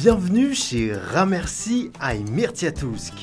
Bienvenue chez Ramerci à Mirtiatousk,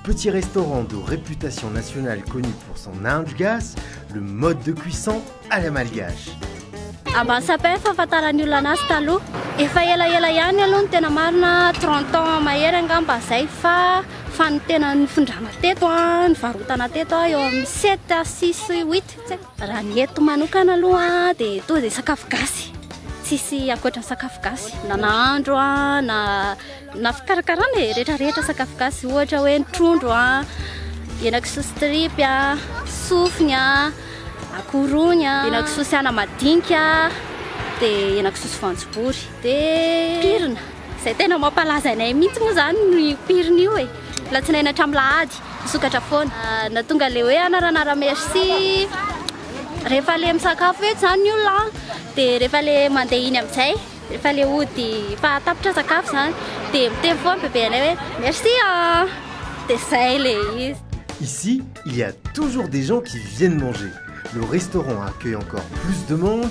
petit restaurant de réputation nationale connu pour son indgas, le mode de cuisson à la malgache. Ambany sapin fahafantaran'ny olona anazy taloha. Efa elaela ihany aloha ny tena marina 30 ans mahery angamba zay fa Fa ny tena nifindrana teto an, nivarotana teto an, eo amin'ny sept à six huit tsy haiko. Raha ny eto manokana aloha dia toa izay sakafo gasy, tsisy ankoatra ny sakafo gasy, na nahandro an, na na fikarakarana e, rehetra rehetra sakafo gasy, ohatra hoe ny trondro an, henakisoa sy tripy an, sofiny an, akoho rony an, henakisoa sy anamadinika, dia henakisoa sy voanjobory, dia pirina. Izay tena mampalaza anay mihitsy moa izany no io pirina io e! Alatsinainy hatramin'ny alahady, misokatra foana. Na tonga ilay hoe anaranara merci rehefa ilay misakafo etsy izany ny olona an, dia rehefa ilay mandeha iny amin'izay, rehefa ilay hody efa tapitra sakafo izany, dia miteny foana bebe anay hoe merci an! Dia izay ilay izy. Ici, il y a toujours des gens qui viennent manger. Le restaurant accueille encore plus de monde.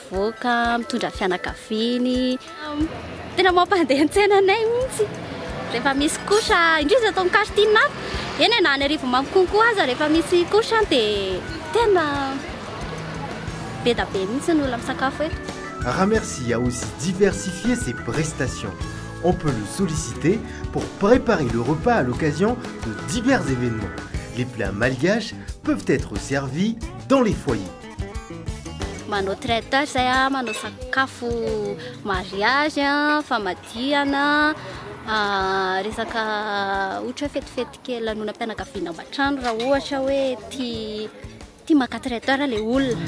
Mivoaka, mitondra fianakaviany. Tena mampandeha an-tsena anay mihitsy. Rehefa misy couche, indrisy eto amin'ny quartier hafa. Eny e, na any Arivonimamo konko aza rehefa misy couche dia tena be dia be mihitsy ny olona misakafo eto. Ramercie a aussi diversifié ses prestations. On peut le solliciter pour preparer le repas à l'occasion de divers événements. Les plats malgaches peuvent être servis dans les foyers. manao traiteur zay a ah, manao sakafo mariage a ah, famadihana ah, resaka ohatra hoe fetifety kely lanonam-pianakaviana ao an-trano raha ohatra hoe ti ti maka traiteur le olona